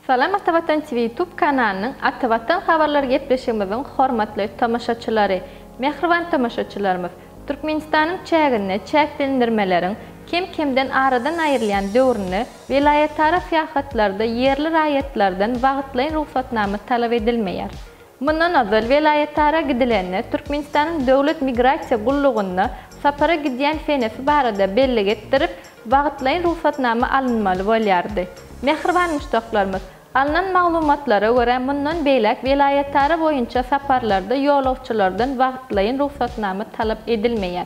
Salam Atavatan TV YouTube kanalynyň Atavatan habarlary gepleşigimiziň hormatly tomaşaçylary! Mähriban tomaşaçylarymyz, Türkmenistanyň çäginde çäklendirmeleriň kem-kemden aradan aýrylýan döwründe welaýatara syýahatlarda ýerli raýatlardan wagtlaýyn rugsatnama talap edilmeýär. Mundan ozal welaýatara gidilende Türkmenistanyň Döwlet migrasiýa gullugyna sapara gidýän senesi barada bellik etdirip, wagtlaýyn rugsatnama alynmaly bolýardy. Mähriban muşdaklarymyz, alnan maglumatlara görä, mundan beýläk welaýatara boýunça saparlarda ýolagçylardan wagtlaýyn rugsatnama talap edilmeýär.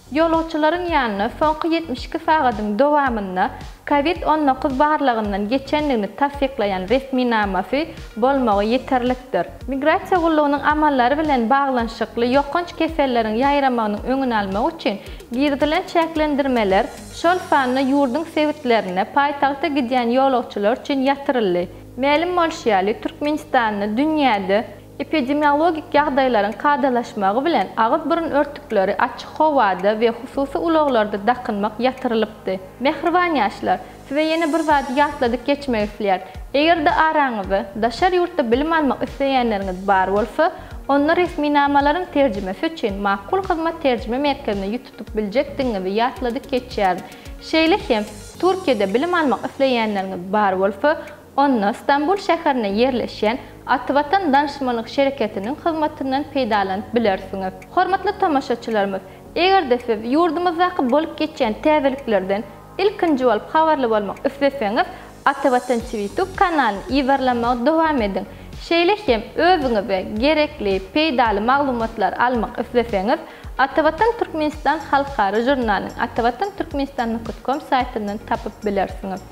Ýolagçylaryň ýanyna soňky ýetmiş iki sagadyň dowamynda Covid on dokuz barlagyndan geçendigini tassyklaýan resminamasy bolmagy ýeterlikdir. Migrasiýa gullugynyň amallary bilen baglanyşykly ýokanç keselleriň ýaýramagynyň öňüni almak üçin girizilen çäklendirmeler, şol sanda ýurduň sebitlerine paýtagta gidýän ýolagçylar üçin ýatyryldy. Mälim bolşy ýaly, Türkmenistanda dünýäde Epidemiologik ýagdaýlaryň kadalaşmagy bilen agyz-burun örtükleri açyk howada we hususy ulaglarda dakynmak ýatyrylypdy. Mähriban ýaşlar, size ýene bir zady ýatladyp geçmek isleýärin. Eger-de araňyzda daşary ýurtda bilim almak isleýänleriňiz bar bolsa, onda resminamalaryň terjimesi üçin Makul Hyzmat terjime merkezine ýüz tutup biljekdigiňizi ýatladyp geçýärin. Şeýle hem, Türkiýede bilim almak isleýänleriňiz bar bolsa, Onda Stambul şäherinde ýerleşýän Ativatan Danşmanlyk şereketiniň hyzmatyndan peýdalanyp bilersiňiz. Hormatly tomaşaçylarymyz, eger-de siz ýurdumyzdaky bolup geçýän täzeliklerden ilkinji bolup habarly bolmak isleseňiz, Atavatan Cwitug kanalyny ýyzarlamagy dowam ediň. Şeýle hem özüňize gerekli, peýdaly maglumatlary almak isleseňiz, Atavatan Türkmenistan halkara žurnalyny Atavatan Türkmenistan nokot kom saýtyndan tapyp bilersiňiz.